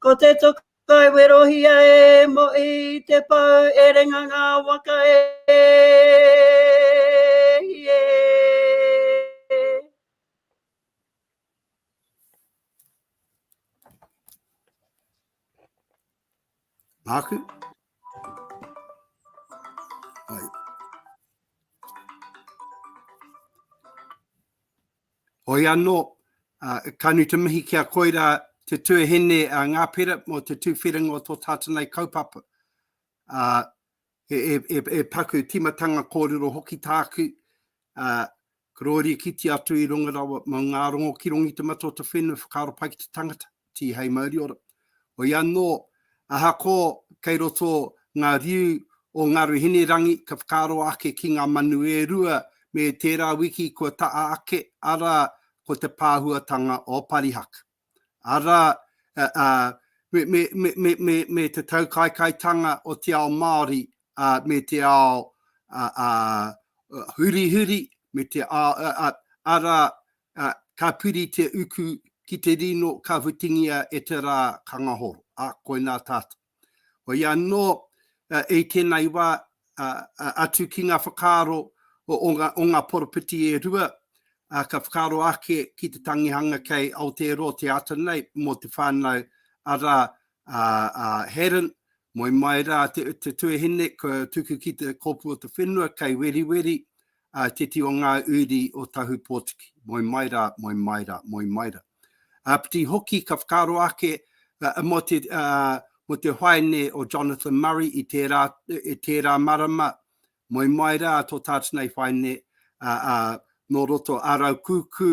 Ko te toka i werohia e mo i te pau e renga ngā waka e hie. Nāku. Hai. Hoi anō, ka nui te mihi ki a Koira Te Tuahine a Ngā Pera mō te tuwhiringa o tō tātou nei kaupapa. He paku tīmatanga kōrero hoki tāku, kororia kite atu i runga rawa mō ngā rongo ki Rongitamatotowhenua whakaaro pai ki te tangata. Tihei Mauriora. Hoi anō, ahako kei roto ngā riu o Ngaru Hinerangi ka whakaaro ake ki ngā manu e rua me tērā wiki kua taa ake, arā, ko te pāhuatanga o Parihaka. Arā, me te taukaekaetanga o te ao Māori me te ao hurihuri, arā, Ā, ka piri te uku ki te rino ka whitingia e te rā ka ngahoro, ā, koinā tātou. Hoi anō, i tēnei wā, atu ki ngā whakaaro o ngā poropiti e rua, ka whakaaro ake ki te tangihanga kei Aotearoa te ata nei mō te whānau, arā, a Haddon, moe mai rā te tuahine kua tuku ki te kōpū o te whenua kei Weriweri, Ā, teti o ngā uri o Tahupōtiki, moe mai rā, moe mai rā, moe mai rā. Āpiti hoki ka whakaaro ake mō te, ā, mō te haene o Jonathan Murray i tērā, i tērā marama, moe mai rā tō tātana i whaine, ā, ā, nō roto ā rau kūkū,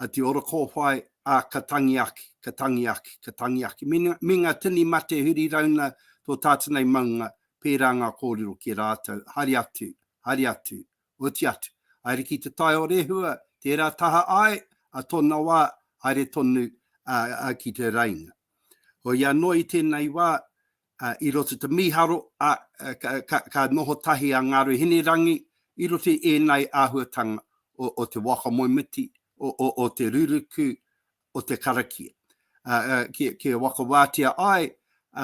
ā, te ora kōwhai, ā, ka tangi ake, ka tangi ake, ka tangi ake. Me, me ngā tini mate huri rauna tō tātana i maunga, pērā ngā kōrero ki a rātou, haere atu, haere atu, oti atu, haere ki te tai o Rehua, tērā taha āe a tōna wā, haere tonu ki te raina. Hoi anō i tēnei wā, i roto te mīharo, ka noho tahi a Ngāru Hinerangi i roto i ēnei āhuatanga o te waka moemiti, o te ruruku, o te karakia, kia whakawātia ai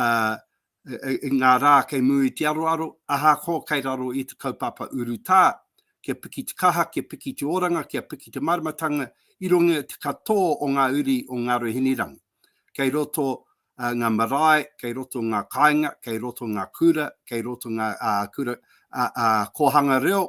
i ngā rā kei mū i te aroaro, ahakoa kei raro i te kaupapa urutā, kia piki te kaha, kia piki te oranga, kia piki te māramatanga i runga i te katō o ngā uri o Ngāruahinirangi. Kei roto ngā marae, kei roto ngā kāinga, kei roto ngā kura, kei roto ngā kura kōhanga reo,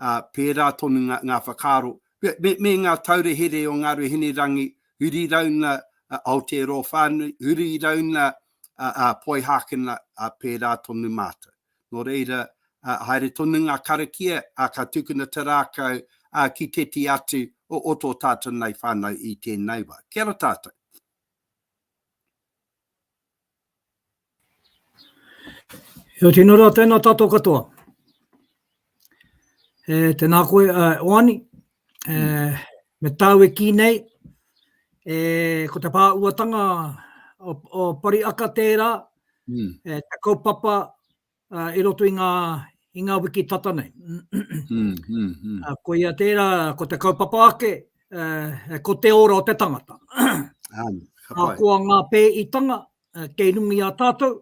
ā, pērā tonu ngā, ngā whakaaro, me, me ngā taurehere o ngā reo Hinerangi, huri i rauna Aotearoa whānui, huri i rauna a, a Poihākena, a, pērā tonu mātou. Nō reira, a, haere tonu ngā karakia, a, ka tukuna te rākau, a, ki tēti atu o, o tō tātou nei whānau i tēnei wā. Kia ora tātou. Kia tino rā, tēnā tātou katoa. E, tēnā koe, e, Oani, e, mm. me tāu e kī nei, e, ko te pāuatanga o, o Pariaka tērā, mm. e, te kaupapa uh, i roto i ngā, i ngā wiki tata nei. mm, mm, mm. Uh, ko ia tērā, ko te kaupapa ake, uh, ko te ora o te tangata. um, uh, ko a ngā pē i tanga, uh, kei rungi a tātou,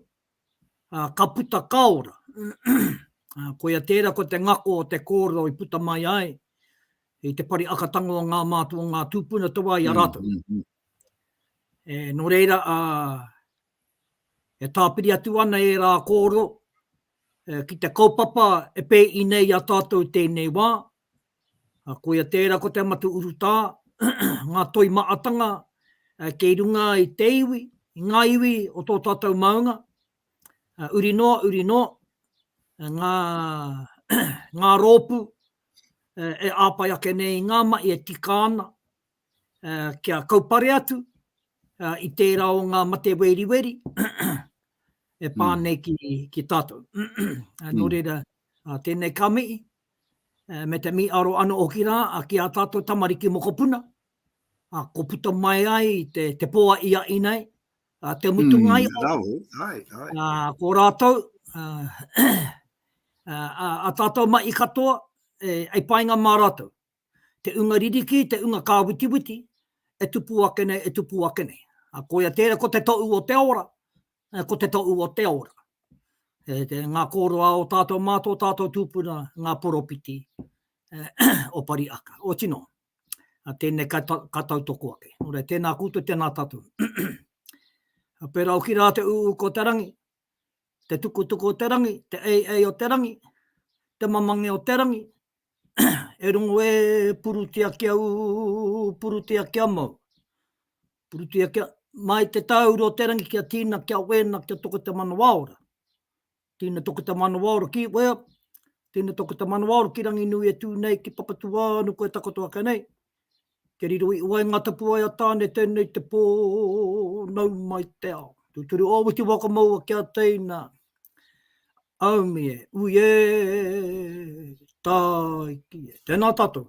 uh, ka puta ka ora. uh, ko ia tērā, ko te ngako o te kōro i puta mai ai, i te pari akatanga o ngā mātua, ngā tūpuna te wā i a mm, rātou. Mm, mm, mm. E, no reira, uh, E tāpiri atu ana ērā kōrero ki te kaupapa e pēi nei i a tātou i tēnei wā. Koia tērā ko Te Amatu Urutā, ngā toi maatanga kei runga i te iwi, i ngā iwi o tō tātou maunga. Uri noa, uri noa, ngā, ngā rōpū e āpai ake nei i ngā mahi e tika ana, kia kaupare atu i tērā o ngā mate weriweri e pā hmm. nei ki, ki tātou. Nō hmm. reira, tēnei ka mihi, me te mi aro ano o ki rā, a ki a tātou tamariki mokopuna, a ko puta mai ai te, te poa i a inai, a te mutu mm, ngai o, ai, ai, ai. A, ko rātou, a, a, a, a tātou mai i katoa, e, e painga mā rātou. te unga ririki, te unga kāwitiwiti, e tupu ake nei, e tupu ake nei. A koia tērā, ko te toʻu o te ora, ko te toʻu o te ora. E te ngā kōroa o tātou mā tō tātou tūpuna, ngā poropiti o Pariaka. O tino, a tēnei ka, ta, ka tautoko ake. Ora, tēnā kūtou, tēnā tātou. a pērā o ki rā te ū ko te rangi, te tukutuku o te rangi, te ei ei o te rangi, te mamange o te rangi, E rongo e purutia kia ū, purutia kia mau. Purutia kia, mai te tāuru o te rangi kia tīna, kia wēna, kia toko te manawa ora. Tīna toko te manawa ora ki wea, tīna toko te manawa ora ki Ranginui e tū nei, ki Papatūānuku e takoto ake nei. Te riro i waenga tapuwae a Tāne tēnei te pō nau mai te ao. Tūturu o Witi Whakamaua ki a teina Aumi e, ui e, tāiki e. Tēnā tātou.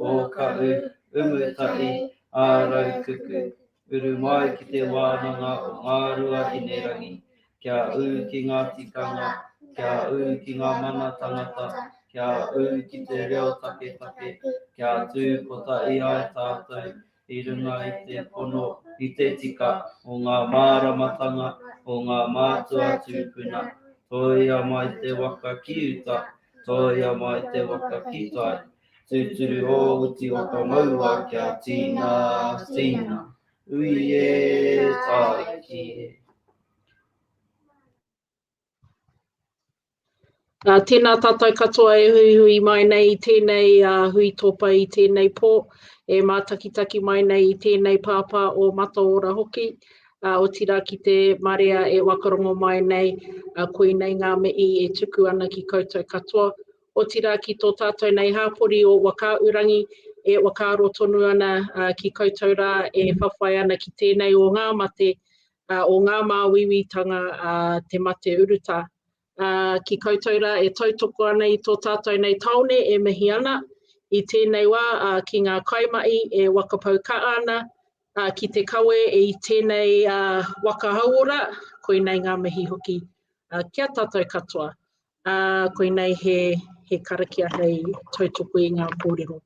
Ōkahu, Umutai, Ārautuku, uru mai ki te wānanga o Ngāruahinerangi, kia ū ki ngā tikanga, kia ū ki ngā mana tangata, kia ū ki te reo taketake, kia tū kotahi ai tātou, i runga i te pono, i te tika o ngā māramatanga o ngā mātua tūpuna, tōia mai te waka ki uta, tōia mai te waka ki tai, tūturu ō uti o ka maua kia tīna, tīna, ui e, tāiki e. Ā, tēnā tātou katoa e huihui mai nei i tēnei hui tōpai i tēnei pō, e mātakitaki mai nei i tēnei pāpā o Mataora hoki, ā, otirā ki te marea e wakarongo mai nei, ā, koinei ngā mihi e tuku ana ki koutou katoa, otirā ki tō tātou nei hāpori o Whakaūrangi e whakaaro tonu ana ki koutou rā e whawhai ana ki tēnei o ngā mate, ā, o ngā māuiuitanga a te mate urutā. Ā, ki koutou rā e tautoko ana i tō tātou nei tāone e mihi ana, i tēnei wā, ā, ki ngā kaimahi e wakapau kaha ana, ā, ki te kawe i tēnei waka hauora, koinei ngā mihi hoki kia tātou katoa. Ā, koinei he, he karakia hei tautoko i ngā kōrero.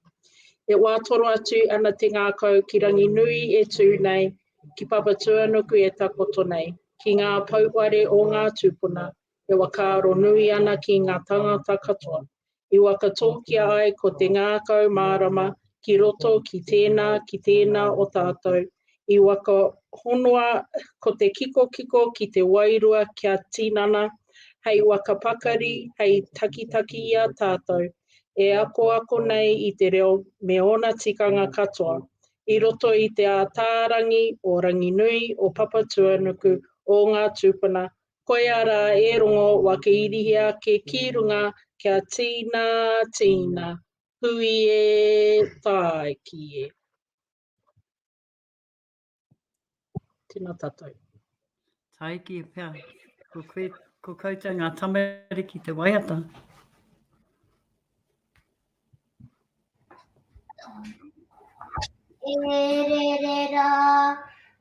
E wā toro atu ana te ngākau ki Ranginui e tū nei, ki Papatūānuku e takoto nei, ki ngā pouware o ngā tūpuna e whakaaro nui ana ki ngā tāngata katoa, i whakatōkia ai ko te ngākau mārama ki roto ki tēnā, ki tēnā o tātou, I waka honoa ko te kikokiko ki te wairua kia tinana hei waka pakari hei takitaki i a tātou e akoako nei i te reo me ōna tikanga katoa i roto i te ātārangi o Ranginui, o Papatuanuku, o ngā tūpuna, koia rā e rongo wakeirihia ake ki runga kia tīnā, tīnā, hui e, tāiki e. Tēnā tātou. Taiki e pea. Ko, koe, ko koutou ngā tamariki te waiata. E re re ra.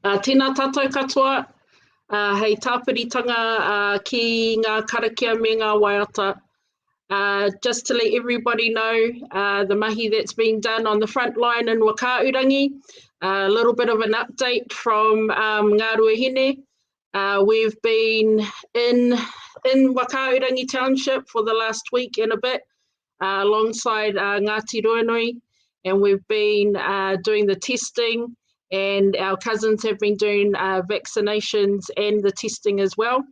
Ā, tēnā tātou katoa, ā, hei tāpiritanga, ā, ki ngā karakia me ngā waiata. Ā, just to let everybody know, ā, the mahi that's being done on the front line in Whakaahurangi, ā, a little bit of an update from, um, Ngā Ruahine. Ā, we've been in, in Whakaahurangi Township for the last week and a bit, uh, alongside uh, Ngāti Ruanui, and we've been uh, doing the testing, and our cousins have been doing uh, vaccinations and the testing as well.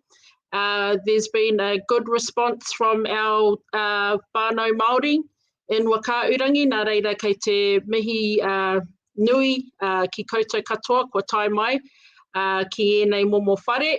Uh, there's been a good response from our uh, whānau Māori in Wakaurangi, nā reira kei te mihi uh, nui uh, ki koutou katoa, kua tae mai uh, ki ēnei momo whare.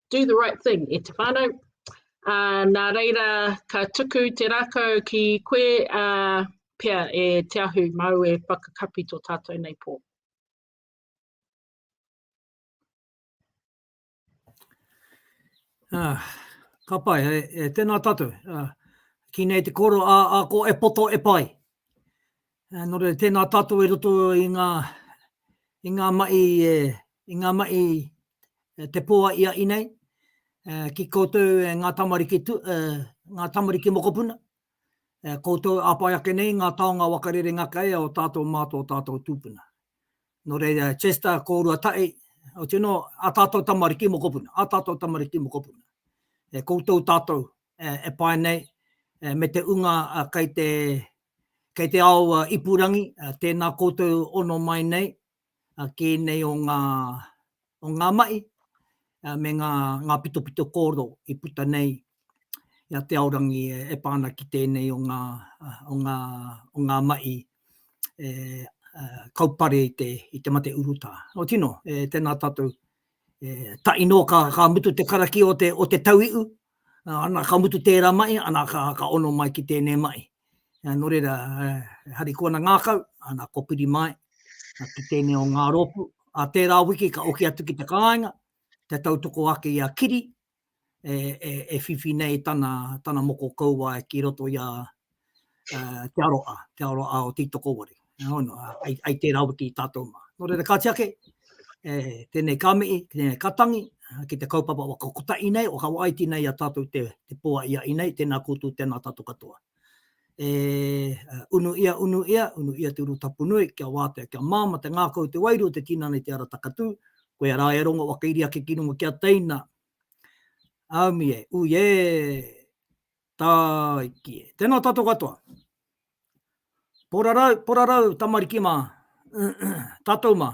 do the right thing e te whānau. Uh, nā reira, ka tuku te rākau ki koe uh, pia e te ahu mau e whakakapi tō tātou nei pō. Ah, ka pai, e, e tēnā tātou. Ah, ki nei te koro, a, a ko e poto e pai. Ā, nō reira, tēnā tātou i roto i ngā, i ngā mahi e, i ngā mahi e te pō a ia i nei, ā, ki koutou e ngā tamariki tu, ā, ngā tamariki mokopuna, ā, koutou e āpae ake nei i ngā taonga waka rerenga kai a o tātou mā tō tātou tūpuna. Nō reira, Chester, kōrua tahi, otirā nō, ā tātou tamariki mokopuna, ā tātou tamariki mokopuna, e koutou tātou, e pae nei, me te unga kei te, kei te ao ipurangi, tēnā koutou ono mai nei, kē nei o ngā, o ngā mahi, me ngā, ngā pitopito kōrero i puta nei i a Te Aorangi e pā ana ki tēnei o ngā, o ngā, o ngā mahi e kaupare i te, i te mate urutā. Nō tino, tēnā tātou E taʻi nō ka, ka mutu te karakia o te, o te tauiʻu, ana, ka mutu tērā maʻi, ana, ka, ka ono mai ki tēnei maʻi. Ā, nō reira, e harikoana ngākau, ana, ko piri mai, ki tēnei o ngā rōpū. Ā tērā wiki ka oki atu ki te kāinga, kia tautoko ake i a Kiri, e whiwhi nei tana moko kauae ki roto i a Te Aroha, Te Aroha o Tītokowaru. Nō hono, ai tērā wiki i tātou mā. Nō reira, kāti ake, tēnei ka mihi, tēnei ka tangi ki te kaupapa waka kotahi nei o Hawaii, tēnei a tātou te poaia i nei, tēnā koutou, tēnā tātou katoa. e unu ia, unu ia, unu ia te Urutapunui, kia wātea, kia māmā te ngākau o te wairua o te tinana i te ara takatū, koia rā e rongo whakairi ake ki runga ki a teina. Aumi e, ui e, tāiki e. Tēnā tātou katoa. Porarau, porarau, tamariki mā, tātou mā.